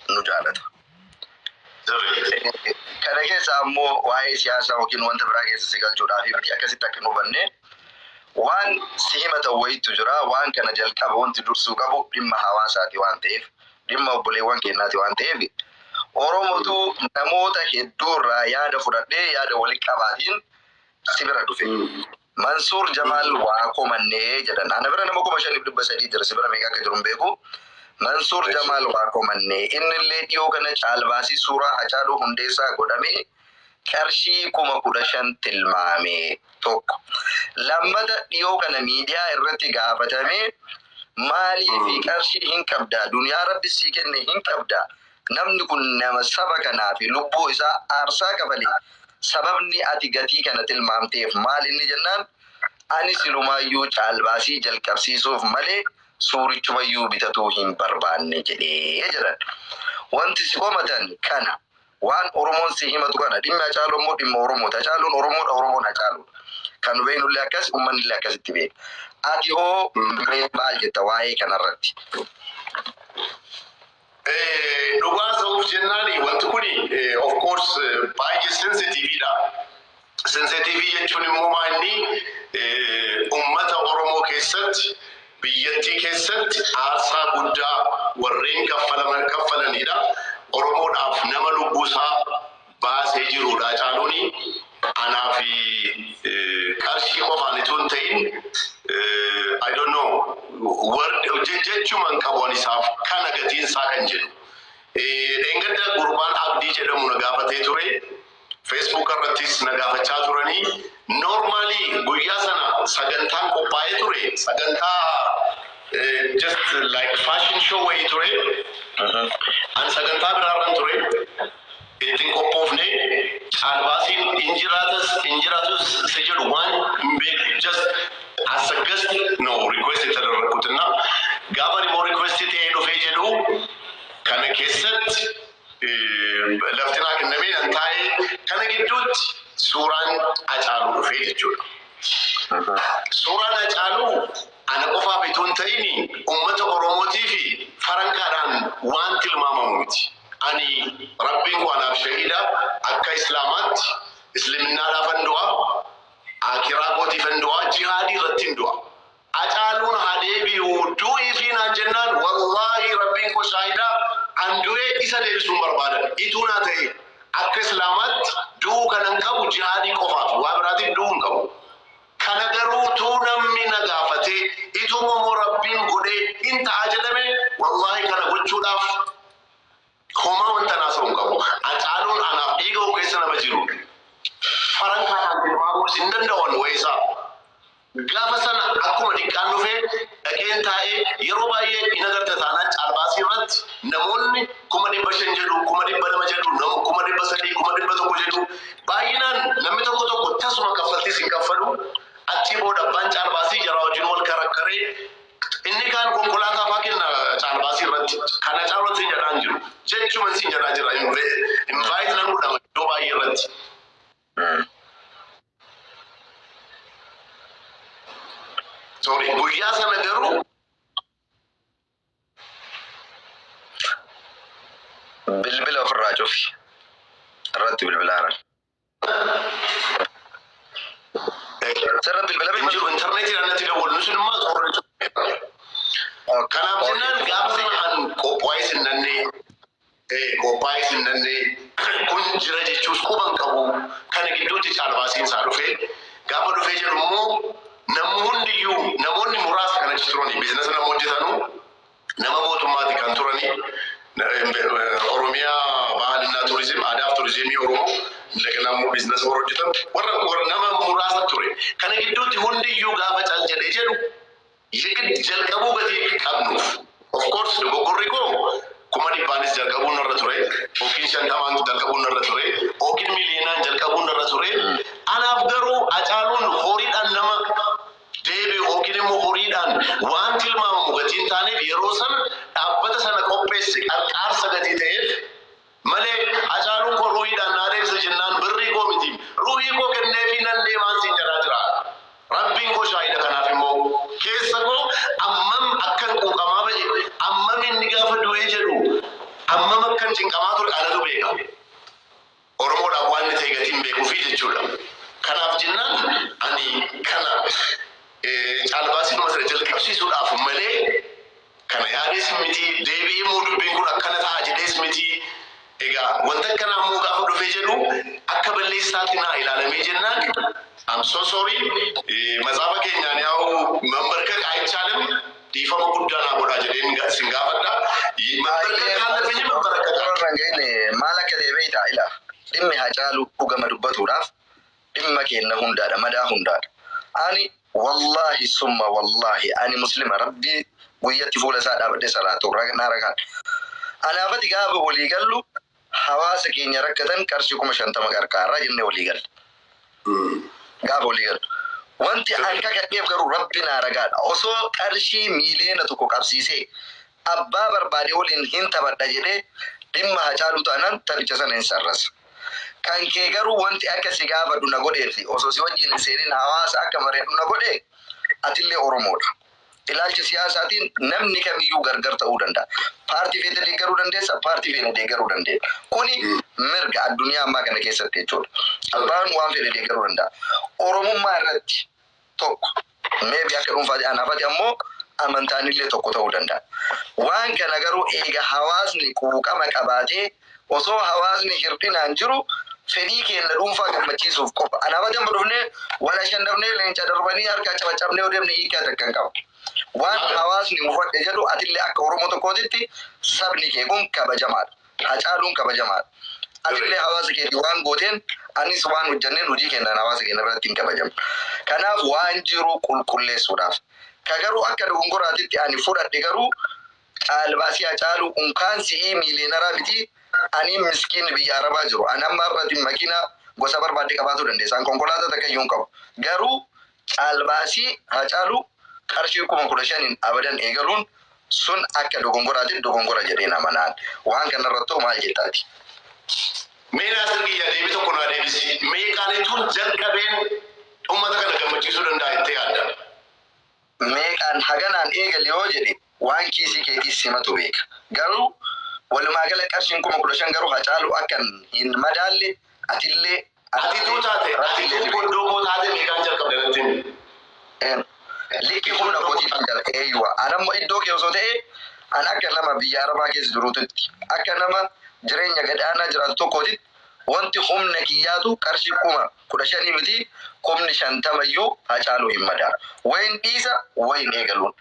nu jaalata. Kana keessaa ammoo waa'ee siyaasaa yookiin wanta biraa keessa si galchuudhaaf miti akkasitti akka hin hubanne waan si himatan wayiitu jira. Waan kana jalqaba wanti dursuu qabu dhimma hawaasaati waan ta'eef dhimma obboleewwan keenyaati waan ta'eef Oromotu namoota hedduurraa yaada fudhadhee yaada walitti qabaatiin si bira dhufe. Mansuur Jamaal waa komanne jedhan. Ana bira nama 5300 jira, si bira meeqa akka jiru hin beeku. Mansuur Jamaal waa komanne. Innillee dhiyoo kana caalbaasii suuraa Hacaaluu Hundeessaa godhame qarshii 15,000 tilmaame. Tokko. Lammata dhiyoo kana miidiyaa irratti gaafatamee maaliif qarshii hin qabdaa? Duniyaa Rabbi sii kenne hin qabdaa? Namni kun nama saba kanaafi lubbuu isaa aarsaa kafale. Sababni ati gatii kana tilmaamteef maal inni jennaan, ani silumaayyuu caalbaasii jalqabsiisuuf malee suurichumayyuu bitatuu hin barbaanne jedhe jedhan. Wanti si komatan kana. Waan Oromoon si himatu kana. Dhimmi Hacaaluu ammoo dhimma Oromooti. Hacaaluun Oromoodha, Oromoon Hacaaluudha. Kan nu beeknullee akkasi, ummannillee akkasitti beeka. Atihoo mee maal jetta waa'ee kanarratti? Dhugaa hasa'uuf jennaan wanti kun of course baay'ee sensitive dha. Sensitive jechuun immoo maa inni ummata Oromoo keessatti biyyattii keessatti aarsaa guddaa warreen kaffalaman kaffalanidha. Oromoodhaaf nama lubbuu isaa baasee jiruudha. Hacaaluuni anaa fi qarshii qofaan ituu hin ta'in I don't know word je- jechuma hin qabu ani isaaf kana gatiin isaa kan jedhu. Eh, Dheengadda gurbaan Abdii jedhamu na gaafatee ture. Facebook irrattis na gaafachaa turanii. Normaalii guyyaa sana sagantaan qophaa'ee ture. Sagantaa eh, just like fashion show wayii ture. Ani sagantaa biraarran ture. itti hin qophoofne caalbaasiin hin jiraatas hin jiraatus isa jedhu waan hin beekne just as a guest no request የተደረግኩትና gaafa ani immoo request ta'ee dhufee jedhu kana keessatti lafti naa kennamee nan taa'ee kana gidduutti suuraan acaaluu dhufee jechuudha. Suuraan acaaluu ana qofaaf itoo hin ta'in uummata Oromootii fi farankaadhaan waan tilmaamamu miti. Ani Rabbiin koo anaaf shahiida akka Islaamaatti Isliminnaadhaafan du'a, Aakhiraa kootiifan du'a, jihaadii irrattin du'a. Acaaluun haa deebi'u du'iifii naan jennaan wallaahi Rabbiin koo shaahida an du'ee isa deebisuun barbaadan. Ituu naa ta'ee akka Islaamaatti du'uu kanan qabu jihaadii qofaafi waa biraatiif du'uu hin qabu. Kana garuu utuu namni na gaafatee, ituuma moo Rabbiin godhee hin ta'a jedhamee wallahi kana gochuudhaaf homaa wantan haasa'u hin qabu. Hacaaluun anaaf dhiiga koo keessa nama jiruudha. Farankaa kanaan tilmaamuunis hin danda'u ani wa'ee isaa. Gaafa sana akkuma diqqaan dhufee dhaqeen taa'ee yeroo baay'ee hin agarta taanaan caalbaasii irratti namoonni kuma dhibba shan jedhu, kuma dhibba lama jedhu, nama kuma dhibba sadii, kuma dhibba tokko jedhu Baay'inaan namni tokko tokko tasuma kaffaltiis hin kaffalu. Achii booda abbaan caalbaasii jaraa wajjin wal karakkaree inni kaan konkolaataa faa kenna caalbaasii irratti. Kana caalwan sin jedhaa hin jiru. Jechuman sin jedhaa jira. Invite nan godhama iddoo baay'ee irratti. Sorry, guyyaa sana garuu Bilbila ofirraa cufi. Irratti bilbilaanan. Sirra bilbila hin jiru intarneetiidhaan natti dawwallu sun immoo qorra cufi. Kanaaf jennaan gaafa sana an qophaa'ee sin nannee ee qophaa'ee hin danda'e kun jira jechuus quba hin qabu kana gidduutti caalbaasiin isaa dhufe gaafa dhufee jedhu immoo namni hundiyyuu namoonni muraasa kan achi turanii biizinasa nama hojjetanu nama mootummaati kan turanii oromiyaa bahalinaa turizim aadaaf turizimii oromoo indagana immoo biizinasa warra hojjetan warra warra nama muraasa ture kana gidduutti hundiyyuu gaafa cal jedhee jedhu Yegidd jalqabuu gatii hin qabnuuf. Of course dogoggorri koo kuma dhibbaanis jalqabuun narra ture, ykn shantamaan jalqabuun narra ture, ykn miliyeenaan jalqabuun narra ture. Anaaf garuu Hacaaluun horiidhaan nama deebi'u ykn immoo horiidhaan waan tilmaamamu gatii hin taaneef yeroo sana dhaabbata sana qopheesse qarqaarsa gatii ta'eef malee Hacaaluun koo ruuhiidhaan naa deebisa jennaan birrii koo miti ruuhii koo kenneefii nan deemaan siin jedhaa jira. Rabbiin koo shaahida kanaaf immoo keessa koo ammam akkan quuqamaa ba'e ammam inni gaafa du'ee jedhu ammam akkan cinqamaa ture anatu beeka. Oromoodhaaf waanni ta'e gatii hin beekuufii jechuudha. Kanaaf jennaan ani kana caalbaasiidhuma sana jalqabsiisuudhaaf malee Kana yaadees miti, deebi'ee immoo dubbiin kun akkana ta'a jedhees miti. Egaa wanti akkanaa immoo gaafa dhufee jedhu akka balleessaatti naa ilaalamee jennaan I'm so sorry. Matsaafa keenyaan yaa'u mambarkak ayichaalim dhiifama guddaa naa godhaa jedheen ga- sin gaafadha. Ye- Mambarkak kaan lafe je mambarakaka. Warra hin geenye maal akka ta'e beektaa? Ilaa, dhimmi Hacaaluu dhugama dubbatuudhaaf dhimma keenna hundaadha madaa hundaadha ani wallaahi summa wallaahi ani muslima rabbii guyyatti fuula isaa dhaabadhe salaatu raknaa rakaan anaafati gaafa walii gallu hawaasa keenya rakkatan qarshii kuma shantama qarqaarraa jenne walii galle gaafa walii gallu wanti an kakadheef garuu rabbi naa ragaadha osoo qarshii miiliyoona tokko qabsiisee abbaa barbaade waliin hin taphadha jedhee dhimma hacaaluu taanaan taphicha sana hin sarrasa Kan kee garuu wanti akka si gaafadhu na godhee fi osoo si wajjin hin seenin hawaasa akka mari'adhu na godhe atillee Oromoo dha. Ilaalcha siyaasaatiin namni kamiyyuu gargar ta'uu danda'a. Paartii feete deeggaruu dandeessa, paartii feene deeggaruu dandeenya. Kuni mirga addunyaa ammaa kana keessatti jechuudha. Abbaan waan fedhe deeggaruu danda'a. Oromummaa irratti tokko maybe akka dhuunfaati anaafati ammoo amantaanillee tokko ta'uu danda'a. Waan kana garuu eega hawaasni quuqama qabaatee osoo hawaasni hirdhinaan jiru fedhii keenna dhuunfaa gammachiisuuf qofa anaafati amma dhufnee wal ashannafnee leenca darbanii harka cabaccabnee yoo deemne hiikaa takka hin qabu. Waan hawaasni mufadhe jedhu atillee akka Oromoo tokkootitti sabni kee kun kabajamaadha. Hacaaluun kabajamaadha. Atillee hawaasa keetiif waan gooteen anis waan hojjanneen hojii keennaan hawaasa keenna biratti hin kabajamna. Kanaaf waan jiru qulqulleessuudhaaf. Ka garuu akka dogongoraatitti ani fudhadhe garuu caalbaasii Hacaaluu unkaan si'ii miiliyeenaraa mitii anii miskiinni biyya Arabaa jiru. Ani amma har'ati makiinaa gosa barbaadde qabaatuu dandeessa. An konkolaataa takkayyuu hin qabu. Garuu Caalbaasii Haacaaluu qarshii kuma 15n abadan eegaluun sun akka dogongoraati dogongora jedheen amanaan waan kanarrattoo maal jetta ati? Mee Naasir kiyya deebii tokko naa deebisi. Meeqaanituun jalqabeen ummata kana gammachiisuu danda'a jettee yaadda? Meeqaan haganaan eegali yoo jedhe waan kiisii keetii simatu beeka. Garuu walumaa gala qarshiin kuma 15 garuu Hacaaluu akka hin madaalle atillee Ati tuu taate ati tuu goddoo koo taate meeqaan jalqabde natti himi. Een. Likki humna kootii faldabe eeywa anammo iddoo kee osoo ta'ee an akka nama biyya arabaa keessa jiruutitti akka nama jireenya gad aanaa jiraatu tokkootitti wanti humna kiyyaatu qarshii kuma kudha shanii mitii kumni shantama iyyuu hacaaluu hin madaalu wayin dhiisa wayin eegaluun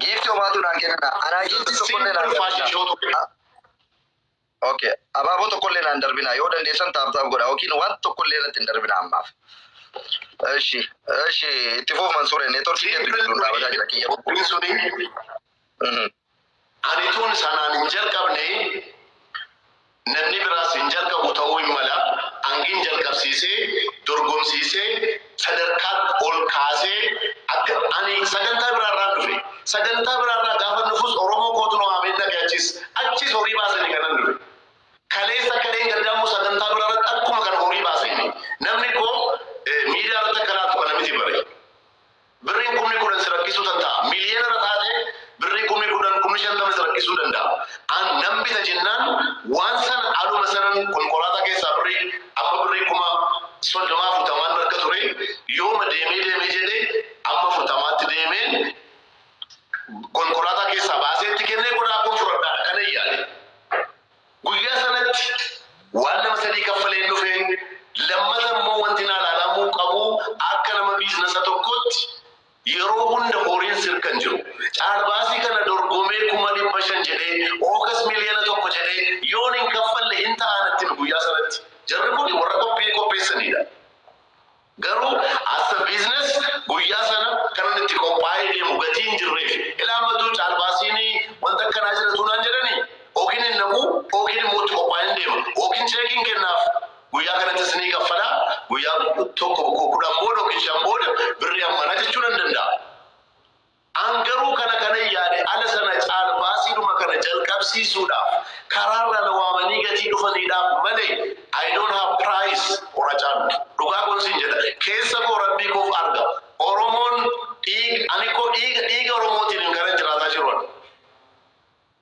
Giiftii homaatu naan kenna. Anaa giiftii tokkollee naan darbina. Okay. Abaaboo tokkollee naan darbina. Yoo dandeessan taaptaaf godha yookiin waan tokkollee irratti hin darbina ammaaf. Eshi, eshi, itti fuuf Mansuure, neetworkii keetu gidduu dhaabataa jira kiyya. Kuni suni Mhm. Ani utuun sanaan hin jalqabne, namni biraas hin jalqabu ta'uu hin mala, Angin jalqabsiisee, dorgomsiisee, sadarkaatti ol kaasee akka ani sagantaa biraa irraan dhufe. Sagantaa biraa irraa gaafan dhufus Oromoo kootu na waamee dhaqe achiis. Achiis horii baasani kanan dhufe. Kaleessa akka dheengaddaa immoo sagantaa biraa irratti akkuma kana horii baaseeni. Namni koo miidiyaa irratti akka laatu kana miti bare. Birriin kumni kudhan si rakkisuu tanta'a. Miliyeenara taate birrii kumni kudhan, kumni shantama si rakkisuu danda'a. An nan bita jennaan waan san haluma sanan konkolaataa keessaa birrii amma birrii kuma soddoma afurtamaan narka ture yooma deemee deemee jedhe amma afurtamaatti deemeen konkolaataa keessaa baasee itti kennee qodaa koon fudhadhaadha kanan yaade. Guyyaa sanatti waan nama sadii kaffaleen dhufe, lammata immoo wanti naa laalamuu qabu akka nama biiznasa tokkootti yeroo hunda horiin sirka hin jiru. Caalbaasii kana dorgomee kuma dhibba shan jedhee ookas miliyoona tokko jedhee yoon hin kaffalle hin ta'a natti hime guyyaa sanatti. Jarri kuni warra qophii qopheessaniidha. Garuu as a business guyyaa sana kanan itti qophaa'ee deemu gatii hin jirreefi. Ilaa matuu caalbaasiin wanta akkanaa jira utuu naan jedhanii okin hin dhaqu okin immoo itti qophaa'een deema. Okin cheekiin kennaaf guyyaa kanattis ni kaffala. Guyyaa tokko kudhan booda okin shan booda birrii hammana jechuu nan danda'a. An garuu kana kanan yaade ala sana caala baasiidhuma kana jalqabsiisuudhaaf karaarraa na waamanii gatii dhufaniidhaaf malee I don't have price or ajand. Dhugaa koon siin jedha. Keessa koo Rabbii koof arga. Oromoon dhiig, ani koo dhiiga, dhiiga Oromootiinin kanan jiraataa jiru ani.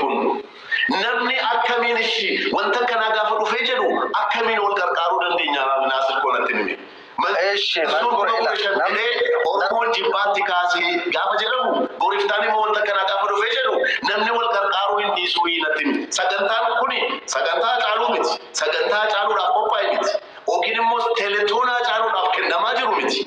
kun namni akkamiin ishi wanta akkanaa gaafa dhufee jedhu akkamiin wal qarqaaruu dandeenya naasir koo natti himi Mal- Eshi, mal Rasuul godhe kuma kudha shan laata? jedhee oromoon jibbaatti kaasee gaafa jedhamu goriftaan immoo wanta akkanaa gaafa dhufee jedhu namni wal qarqaaruu hin dhiisuu hii natti himi sagantaan kuni sagantaa caaluu miti sagantaa caaluudhaaf qophaa'e miti yookiin immoo teletoonaa caaluudhaaf kennamaa jiru miti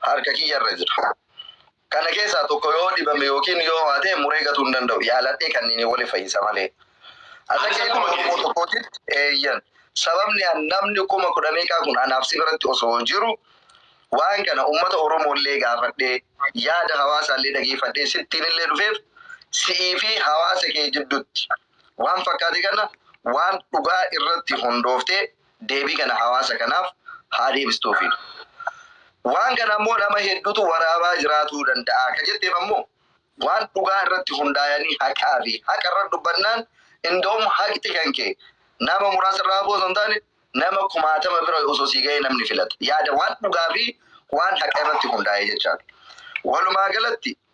harka kiyya irra jira. Kana keessaa tokko yoo dhibame yookiin yoo ho'ate muree gatuu hin danda'u. Yaaladhee kanniiniin wali fayyisa malee. Ati akka ilma Oromoo tokkootitti eeyyan. Sababni an namni kuma kudha meeqaa kun anaaf si biratti osoo jiru waan kana ummata Oromoo illee gaafadhee yaada hawaasaa illee dhageeffadhee sittiin illee dhufeef si'ii fi hawaasa kee jiddutti waan fakkaate kana waan dhugaa irratti hundooftee deebii kana hawaasa kanaaf haa deebistuufi. Waan kana ammoo nama heddutu waraabaa jiraatuu danda'a ka jetteef ammoo waan dhugaa irratti hundaayanii haqaafi haqa irratti dubbannaan indaum haqxi kan kee nama muraasa irraa hafuu osoo hin taane nama kumaatama bira osoo sii gahee namni filata yaada waan dhugaafi waan haqa irratti hundaayee jechaadha. Walumaagalatti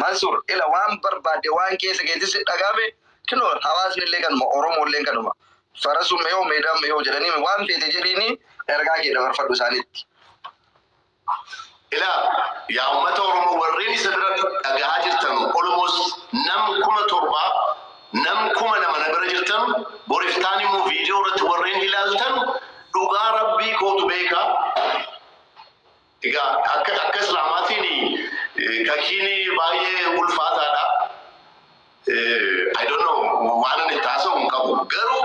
Mansur ila waan barbaadde waan keessa keetti si dhagahame kino hawaasni illee kanuma oromoo illeen kanuma farasu meyoo meedaan meyoo jedhanii waan feete jedhiini ergaa kee dabarfadhu isaanitti. Ila yaa ummata oromoo warreen isa bira dhagahaa jirtanu almost nam kuma torba nam kuma lama na bira jirtanu boriftaan immoo video irratti warreen ilaaltanu dhugaa rabbii kootu beeka Egaa akka akka islaamaatiin kakiini baay'ee ulfaataadha. I don't know waan ani itti haasa'u hin qabu. Garuu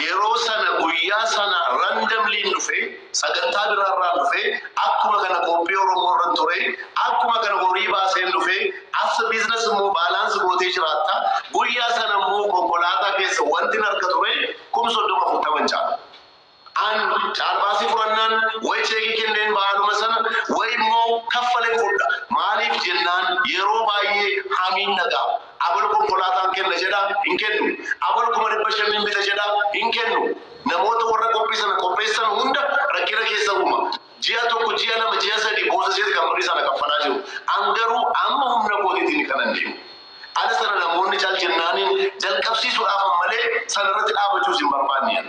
yeroo sana guyyaa sana randomly dhufe sagantaa biraarraan dhufe akkuma kana qophii Oromoo irra ture akkuma kana horii baaseen dhufe as a business immoo baalaansi gootee jiraatta. Guyyaa sana immoo konkolaataa keessa wanti harka ture kum soddoma afurtaman caala. An caalbaasii fudhannaan wayi cheekii kenneen bahaluma sana wayi immoo kaffaleen fudha. Maaliif jennaan yeroo baay'ee hamiin na gaha. Abalu konkolaataan kenna jedha, hin kennu. Abalu kuma dhibba shan nin bita jedha, hin kennu. Namoota warra qophii sana qopheessan hunda rakkina keessa uuma. Ji'a tokko, ji'a lama, ji'a sadii boosaseeti kan birrii sana kaffalaa jiru. An garuu amma humna kootiitiini kanan deemu. Ala sana namoonni cal jennaaniin jalqabsiisuudhaafan malee sanarratti dhaabachuus hin barbaanne an.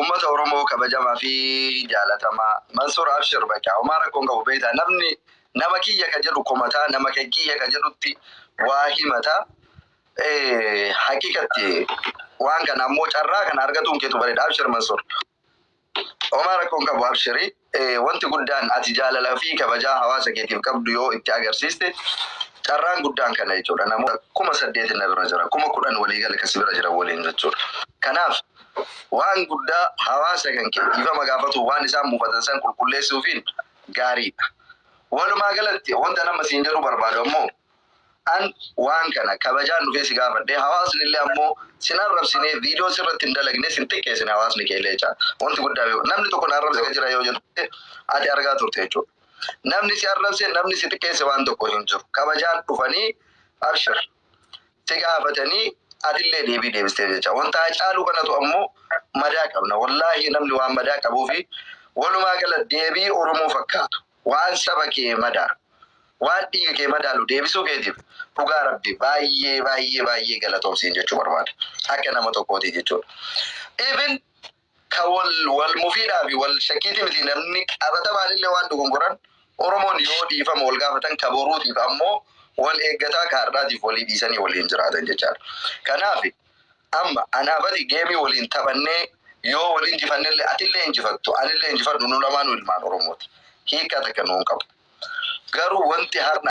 Ummata Oromoo kabajamaa fi jaalatamaa Mansuur Abshir bakka homaa rakkoon qabu beektaa namni nama kiyya ka jedhu komataa nama kan kiyya ka jedhutti waa himata haqiqatti waan kana ammoo carraa kana argatuun keetu bareeda Abshir Mansuur. Homaa rakkoo hin qabu abshiri. Wanti guddaan ati jaalalaa fi kabajaa hawaasa keetiif qabdu yoo itti agarsiiste carraan guddaan kana jechuudha. Namoota kuma saddeeti na bira jira. Kuma kudhan walii gala ka si bira jiran waliin jechuudha. Kanaaf waan guddaa hawaasa kan kee dhiifama gaafatuun waan isaan mufatan san qulqulleessuufiin gaariidha. Walumaa galatti wanta nama siin jedhuu barbaadu ammoo An waan kana kabajaan dhufee si gaafadhe hawaasnillee ammoo sin arrabsine video sirratti hin dalagne sin xiqqeessine hawaasni keellee jechaa wanti guddaa beeku namni tokko na arrabse jira yoo jette ati argaa turte jechuudha namni si arrabse namni si xiqqeesse waan tokko hin jiru kabajaan dhufanii abshir si gaafatanii atillee deebii deebistee jecha wanta hacaaluu kanatu ammoo madaa qabna wallaahi namni waan madaa qabuufi walumaa gala deebii oromoo fakkaatu Waan saba kee madaalu, waan dhiiga kee madaalu deebisuu keetiif dhugaa Rabbii baay'ee baay'ee baay'ee galatoom siin jechuu barbaada. Akka nama tokkootii jechuudha. Even ka wal wal mufiidhaa fi wal shakkiitii miti namni qabatamaan illee waan dogongoran Oromoon yoo dhiifama wal gaafatan ka boruutiif ammoo wal eeggataa ka hardhaatiif walii dhiisanii waliin jiraatan jechaadha. Kanaafi. Amma anaa bari game waliin taphannee yoo wal injifannellee atillee injifattu anillee injifadhu nu lamaanuu ilmaan Oromooti. Hiika takka nuun qabu. Garuu wanti har'a.